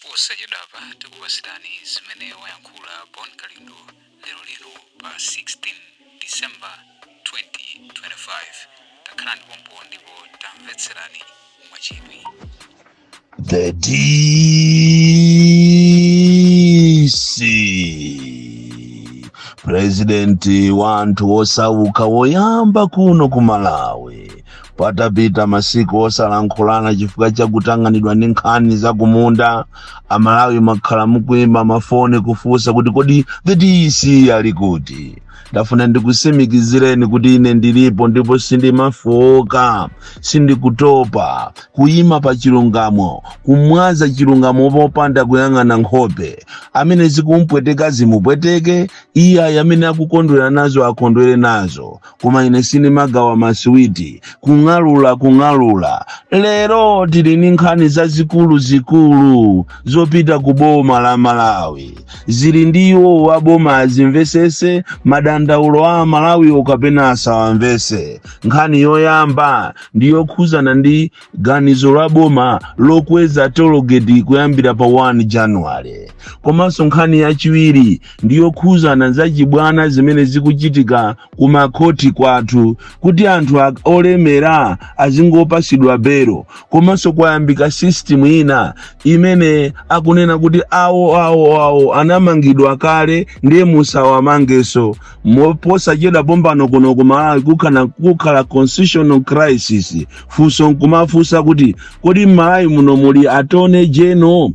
posachedwapa tikupatsirani zimene wayankhula bon kalindo lero lero pa 16 december 2025 takhalani pompo ndipo tamvetserani mwachidwi The DC purezidenti wanthu wosauka woyamba kuno ku malawi patapita masiku osalankhulana chifukwa cha kutang'anidwa ndi nkhani za kumunda amalawi makhala mukuimba mafoni kufunsa kuti kodi the dc ali kuti ndafuna ndikusimikizireni kuti ine ndilipo ndipo sindimafowoka sindikutopa kuyima pa chilungamo kumwaza chilungamo popanda kuyang'ana nkhope amene zikumpweteka zimupweteke iye ayi amene akukondwera nazo akondwere nazo koma ine sindimagawa masiwiti kung'alula kung'alula lero tili ndi nkhani zazikuluzikulu zopita ku boma la malawi zili ndi iwo wa boma azimvesese madandaulo a amalawiwo kapena asawamvese nkhani yoyamba ndi yokhuzana ndi ganizo la boma lokweza tologeti kuyambira pa 1 januwale komanso nkhani yachiwiri ndi yokhuzana za chibwana zimene zikuchitika ku makhoti kwathu kuti anthu olemera azingopasidwa belo komanso kwayambika system ina imene akunena kuti awo awo awo anamangidwa kale ndiye musawamangeso posachedwa pompano kuno kumalawi kukhala constitutional crisis funso nkumafunsa kuti kodi mmalawi muno muli attorney general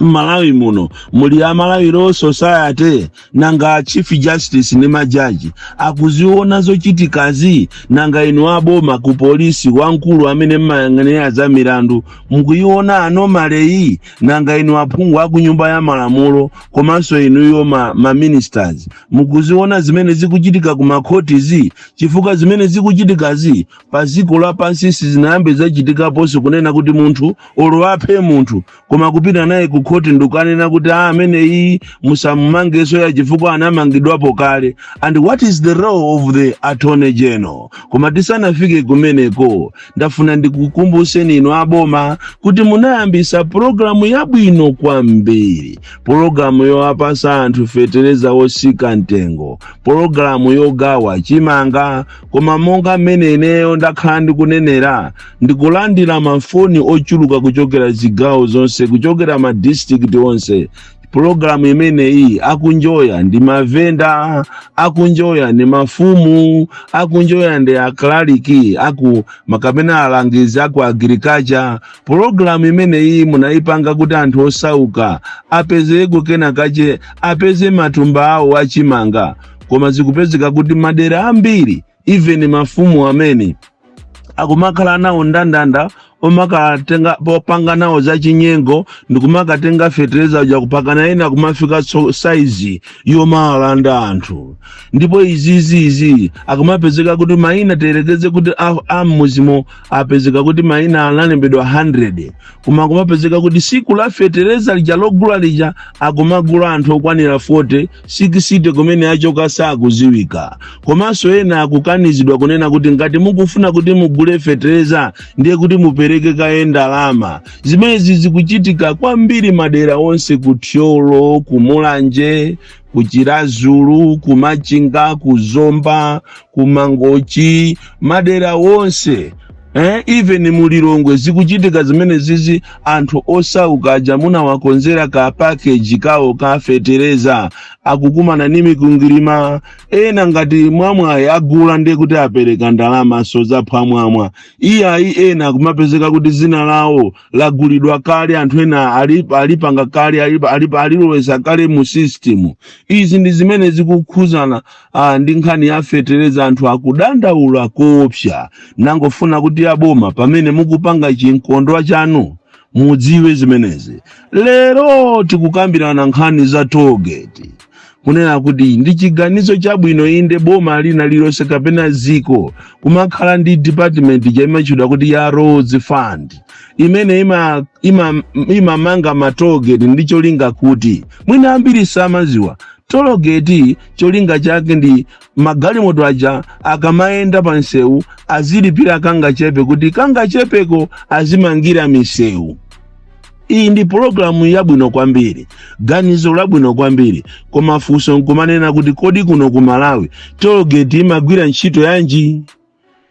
mmalawi muno muli amalawi law society nanga chief justice ndi majaji akuziona zochitikazi nanga inu aboma ku polisi wamkulu amene mmayang'anira za milandu mukuiona anomaly-yi nanga inu aphungu aku nyumba ya malamulo komanso inuyo ma, ma ministers mukuziona zimene zikuchitika ku makhotizi chifukwa zimene zikuchitikazi pa dziko lapansi sizinayambe zachitikaponso kunena kuti munthu olo aphe munthu koma kupita naye ku khoti ndikukanena kuti a amene iyi musamumangenso ya chifukwa anamangidwapo kale and what is the role of the attorney general koma tisanafike kumeneko ndafuna ndikukumbuseni inu aboma kuti munayambisa pulogalamu yabwino kwambiri pulogalamu yowapasa anthu fetereza wosika mtengo pulogalamu yogawa chimanga koma monga mmene ineyo ndakhala ndikunenera ndikulandira mafoni ochuluka kuchokera zigawo zonse kuchokera madistrikiti onse pulogalamu imeneyi akunjoya ndi mavenda akunjoya ndi mafumu akunjoya ndi aklaliki kumaka pena alangizi aku agriculture pulogalamu imeneyi munayipanga kuti anthu osauka apezeko kena kache apeze matumba awo achimanga koma zikupezeka kuti madera ambiri even mafumu amene akumakhala nawo ndandanda omakatenga popanga nawo zachinyengo ndikumakatenga fetereza uja mpakana ena kumafika so- saizi yomalanda anthu ndipo izizizi akumapezeka kuti maina tiyerekeze kuti a- a mmudzimo apezeka kuti maina analembedwa 100 koma akumapezeka kuti siku la fetereza lija logula lija akumagula anthu okwanira 40 60 kumene achoka sakudziwika komanso ena akukanizidwa kunena kuti ngati mukufuna kuti mugule fetereza ndiye kuti mupereke kaye ndalama zimenezi zikuchitika kwambiri madera onse ku thyolo ku mulanje ku chiradzulu ku machinga ku zomba ku mangochi madera onse Eh, even mu Lilongwe zikuchitika zimenezizi anthu osauka aja munawakonzera ka package kawo ka fetereza akukumana ni mikwingwirima ena ngati mwa mwayi agula ndiye kuti apereka ndalamaso zaphwamwamwa iyayi ena kumapezeka kuti dzina lawo lagulidwa kale anthu ena ali- alipanga kale ali- ali- alilowesa kale mu system izi ndi zimene zikukhudzana ndi nkhani ya fetereza anthu akudandaula koopsa nangofuna kuti aboma pamene mukupanga chimkondwa chanu mudziwe zimenezi lero tikukambirana nkhani za toll gate kunena kuti ndi chiganizo chabwino inde boma lina lilonse kapena dziko kumakhala ndi department imatchedwa kuti ya roads fund imene imamanga ima, ima imamanga ma toll gate ndi cholinga kuti mwina ambiri samadziwa toll gate cholinga chake ndi magalimoto aja akamayenda pa msewu azilipira kangachepe kuti kangachepeko azimangira misewu iyi ndi pulogalamu yabwino kwambiri ganizo labwino kwambiri koma funso nkumanena kuti kodi kuno ku malawi toll gate imagwira ntchito yanji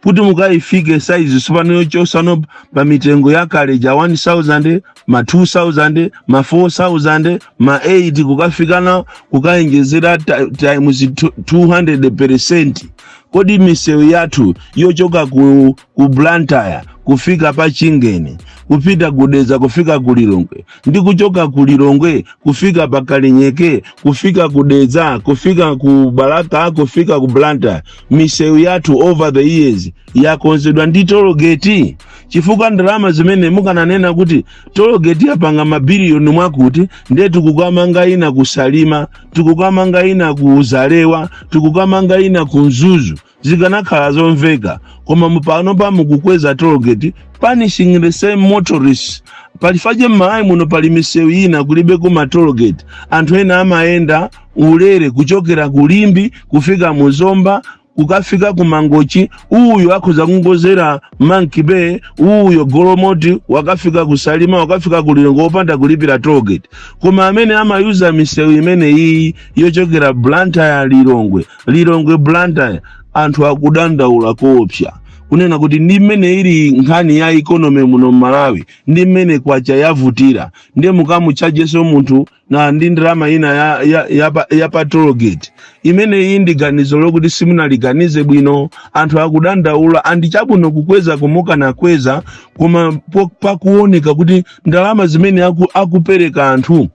kuti mukayifike saizi tsopano yochotsano pa mitengo yakale ija 1000 ma 2000 ma 4000 ma 8 kukafikana kukawonjezera ta- times 200 percent kodi misewu yathu yochoka ku, ku blantyre kufika pa chingeni kupita ku dedza kufika ku lilongwe ndi kuchoka ku lilongwe kufika pa kalinyeke kufika ku dedza kufika ku balaka kufika ku blantyre misewu yathu over the years yakonzedwa ndi tologeti chifukwa ndalama zimene mukananena kuti tologeti yapanga mabiliyoni mwakuti ndiye tikukamanga ina ku salima tikukamanga ina ku zalewa tikukamanga ina ku mzuzu zikanakhala zomveka koma mupano pamukukweza tologeti punishing the same motorists palifaje m'malawi muno pali misewu ina kulibeko matologeti anthu ena amayenda ulere kuchokera ku limbe kufika mu zomba kukafika ku mangochi uyu akhoza kungozera monkey bay uyo golomoti wakafika ku salima wakafika ku lilongwe opanda kulipira toll gate koma amene amayuza misewu imene iyi yochokera blantyre lilongwe lilongwe blantyre anthu akudandaula koopsa kunena kuti ndi mmene ili nkhani ya ikonomi muno mmalawi ndi mmene kwacha yavutira ndi mukamuchajeso munthu na ndi ndalama ina ya, ya, ya, pa- ya pa toll gate imeneyi ndi ganizo lokuti simunaliganize bwino anthu akudandaula andi chabwino kukweza kumukanakweza koma po- pakuoneka kuti ndalama zimene aku, akupereka anthu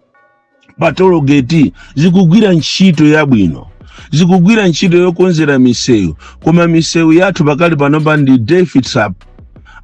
pa toll gate zikugwira ntchito yabwino zikugwira ntchito yokonzera misewu koma misewu yathu pakali panopa ndi death trap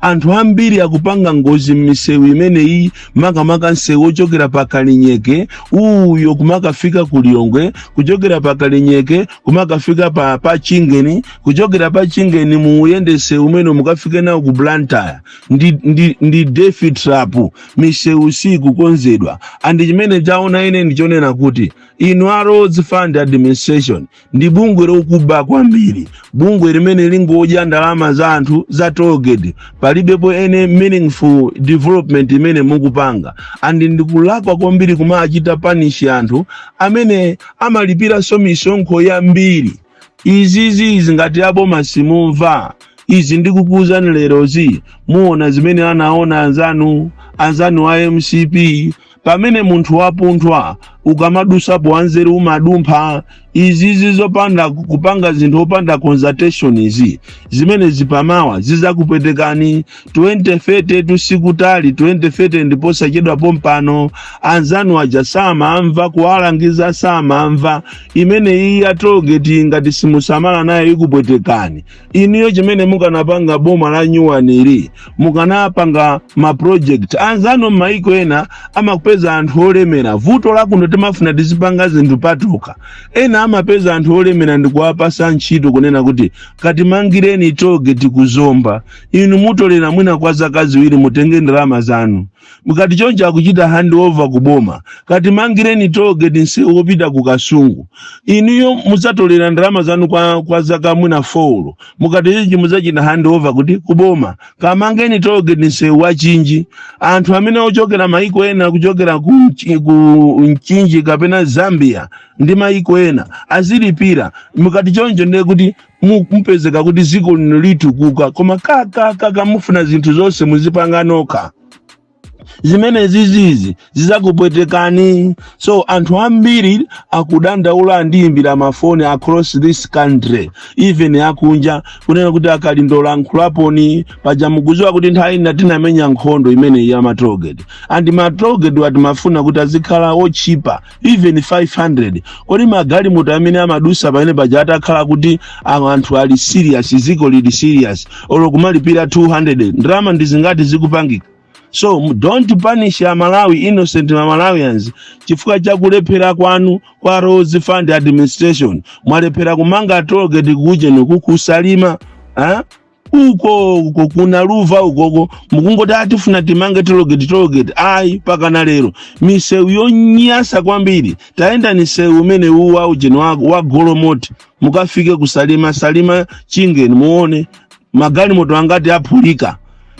anthu ambiri akupanga ngozi m'misewu imeneyi makamaka msewu ochokera pa kalinyeke uyo kumakafika ku lilongwe kuchokera pa kalinyeke kumakafika pa, pa chingeni kuchokera pa chingeni muuyende msewu umene mukafike nawo ku blantyre ndi, ndi, ndi death trap misewu sikukonzedwa andi chimene chaona ine ndichonena kuti inu a roads fund administration ndi bungwe lokuba kwambiri bungwe limene likungodya ndalama za anthu za toll gate palibepo any meaningful development imene mukupanga and ndikulakwa kwambiri kumachita punish anthu amene amalipiranso misonkho yambiri izizi izi ngati aboma simumva izi ndikukuuzani lerozi muona zimene anaona anzanu anzanu a mcp pamene munthu wapunthwa ukamadusapo wanzeru umadumpha izizi zopanda kupanga zinthu opanda consultation izi zimene zimapawa zizakupwetekani 2030tu sikutali 2030 ndipo sachedwa pompano anzanu aja samamva kuwalangiza samamva imene iyi ya tologeti ngati simusamala nayo ikupwetekani inuyo chimene mukanapanga boma la nyuwanili mukanapanga ma project anzanu m'maiko ena amapeza anthu olemera vuto lakuno timafuna tizipanga zinthu patokha ena amapeza anthu olemera ndikuwapasa ntchito kunena kuti katimangireni tologeti ku zomba inu mutolera mwina kwa zaka ziwiri mutenge ndalama zanu mukati choncho akuchita hand over ku boma katimangireni toll gate nsewu wopita ku kasungu inuyo mudzatolera ndalama zanu kwa, kwa zaka mwina four mukati choncho mudzachita hand over kuti ku boma kamangeni toll gate nsewu wa mchinji anthu amene ochokera maiko ena kuchokera ku, Mchi- ku mchinji kapena zambia ndi maiko ena azilipira mukati choncho ndiye kuti mu- mupezeka kuti dziko lino litukuka koma kakakaka mufuna zinthu zonse muzipanga nokha zimene zizizi zizakupwetekani so anthu ambiri akudandaula andiyimbira mafoni across this country even akunja kunena kuti a kalindo lankhulaponi paja mukuziwa kuti nthawi ina tinamenya nkhondo imeneyi ya ma toll gate and ma toll gatewa timafuna kuti azikhala otchipa even 500 kodi magalimoto amene amadusa pamene paja atakhala kuti awo anthu ali serious ziko lili serious olo kumalipira 200 ndalama ndi zingati zikupangika so m- don't punish amalawi innocent malawians chifukwa cha kulephera kwanu kwa roads fund administration mwalephera kumanga toll gate ku ujeni uku ku salima eh? uko uko ku naluva ukoko mukungoti atifuna timange toll gate toll gate ayi pakana lero misewu yonyasa kwambiri tayendani nsewu umenewu wa ujeni wa, wa golomoti mukafike ku salima salima chingeni muone magalimoto angati aphulika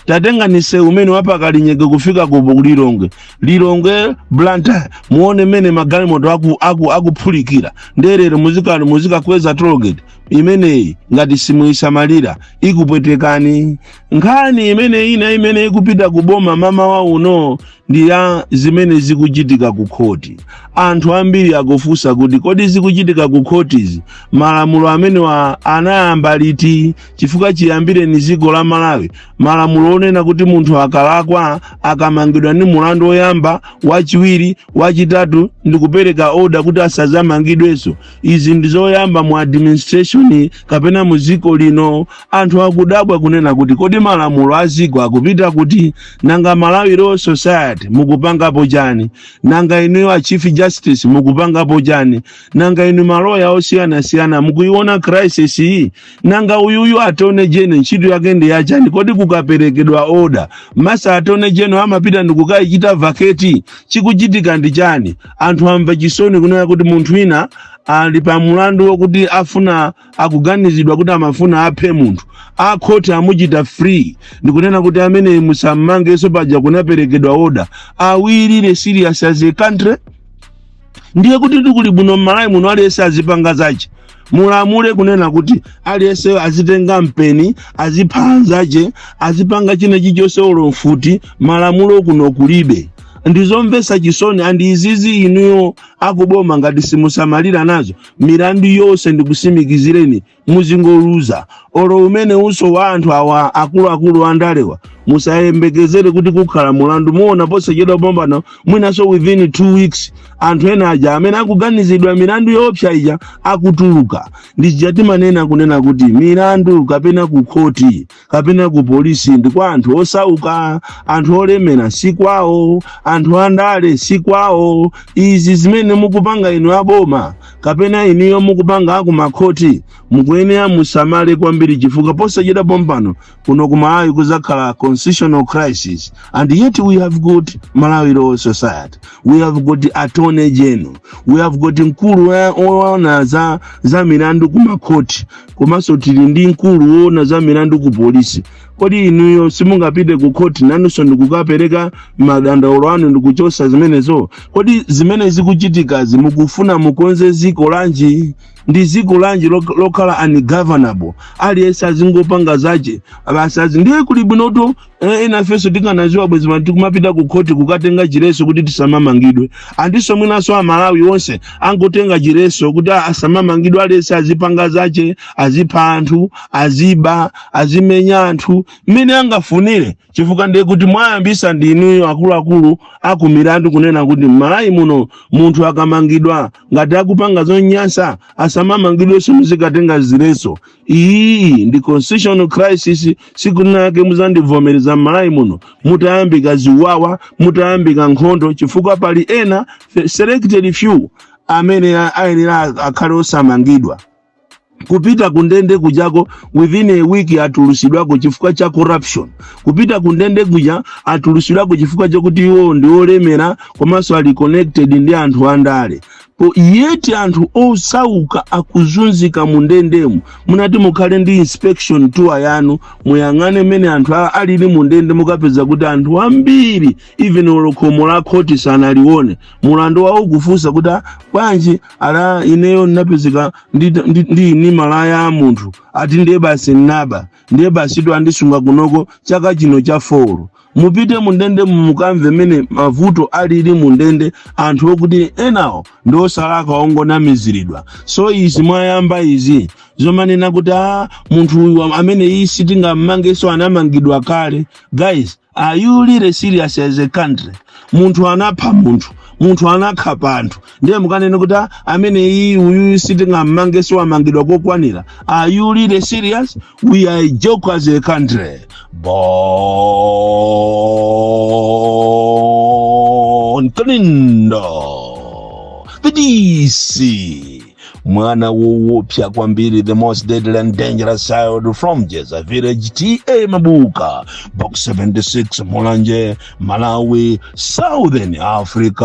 tatengani nsewu umene wa pa kalinyeke kufika ku ku lilongwe lilongwe blantyre muone mmene magalimoto aku, aku, akuphulikira nde lero muzikani muzikakweza toll gate imeneyi ngati simuyisamalira ikupwetekani nkhani imeneyi ina imene ikupita ku boma mamawa uno ndi ya zimene zikuchitika ku khoti anthu ambiri akufunsa kuti kodi zikuchitika ku khotizi malamulo amenewa anayamba liti chifukwa chiyambireni dziko la malawi malamulo onena kuti munthu akalakwa akamangidwa ndi mulandu woyamba wachiwiri wachitatu ndi kupereka oda kuti asazamangidwenso Izi ndi zoyamba mu administration kapena mu dziko lino. Anthu akudabwa kunena kuti kodi malamulo a dziko akupita kuti? Nanga Malawi Law Society mukupangapo chani? Nanga inuyo a Chief Justice mukupangapo chani? Nanga inu maloya osiyanasiyana mukuiona crisis iyi nanga uyuyu attorney general ntchito yake ndi yachani kodi kukaperekedwa oda mesa attorney general amapita ndikukayichita vacate chikuchitika ndi chani anthu amva chisoni kunena kuti munthu wina ali pa mulandu wokuti afuna akuganizidwa kuti amafuna aphe munthu akhoti amuchita free ndikunena kuti ameneyi musammangenso paja kunaperekedwa oda are we really serious as a country ndiye kuti ndiye kuli bwino m'malawi muno aliyense azipanga zache mulamule kunena kuti aliyense azitenga mpeni azipha anzache azipanga china chichonse olo mfuti malamulo kuno kulibe ndizomvesa chisoni andi izizi inuyo akuboma ngati simusamalira nazo milandu yonse ndikusimikizireni muzingoluza olo umene uso wa anthu awa akuluakulu andalewa musayembekezere kuti kukhala mulandu muona posachedwa pompano mwinanso within two weeks anthu ena aja amene akuganizidwa milandu yoopsa ija akutuluka ndichija ti manena kunena kuti milandu kapena kukhoti kapena ku polisi ndi kwa anthu osauka anthu olemera si kwawo anthu andale si kwawo izi zimene mukupanga inu aboma kapena inuyo mukupanga aku makhoti mukuyenera musamale kwambiri chifukwa posachedwa pompano kuno ku malawi kuzakhala constitutional crisis and yet we have got malawi law society we have got attorney general we have got mkulu woona za milandu ku makhoti komanso tili ndi mkulu woona za milandu ku polisi kodi inuyo simungapite ku khoti nanunso ndikukapereka madandaulo anu ndikuchotsa zimenezo kodi zimene zikuchitikazi mukufuna mukonze ziko lanji ndi ziko lanji lokhala ungovernable aliyense azingopanga zache basi azi ndiye kuli bwinoto Eh, inafenso tikanaziwa bwezi pano tikumapita ku khoti kukatenga chireso kuti tisamamangidwe andiso mwinaso amalawi onse angotenga chireso kuti a- asamamangidwe aliyese azipanga zache azipha anthu aziba azimenya anthu mmene angafunire chifukwa ndiye kuti mwayambisa ndi inuyo akuluakulu akumilandu kunena kuti mmalawi muno munthu akamangidwa ngati akupanga zonyansa asamamangidwenso muzikatenga zireso iyi ndi constitutional crisis sikunake muzandivomereza m'malawi muno mutayambika ziwawa mutayambika nkhondo chifukwa pali ena selected few amene ayenera akhale osamangidwa kupita kundende kujako within a week atulusidwako chifukwa cha corruption kupita kundende kuja atulusidwako chifukwa chakuti iwo ndi olemera komanso ali connected ndi anthu andale O, yet anthu osauka akuzunzika mu ndendemu munati mukhale ndi inspection tour yanu muyang'ane mmene anthu alili mu ndende mukapeza kuti anthu ambiri even olo khomo la khoti sanalione mulandu wawo kufunsa kuti "Ah, bwanji ala ineyo napezeka ndi ini malaya a munthu ati ndiye basi nnaba ndiye basi to andisunga kunoko chaka chino cha foro mupite mundende mukamve mmene mavuto alili mundende anthu okuti enawo ndi osalakwa ongonamiziridwa so izi mwayamba izi zomanena kuti a munthu uyu amene iyi sitingammangeso anamangidwa kale guys are you really serious as a country munthu anapha munthu munthu anakhapa anthu ndiye mukanene kuti "Ah, amene iyi uyu sitingammangeso amangidwa kokwanira are you really serious we are a joke as a country bon clindo the dc mwana wowopsa kwambiri the most deadly and dangerous child from jeza village ta mabuka box 76 mulanje malawi southern africa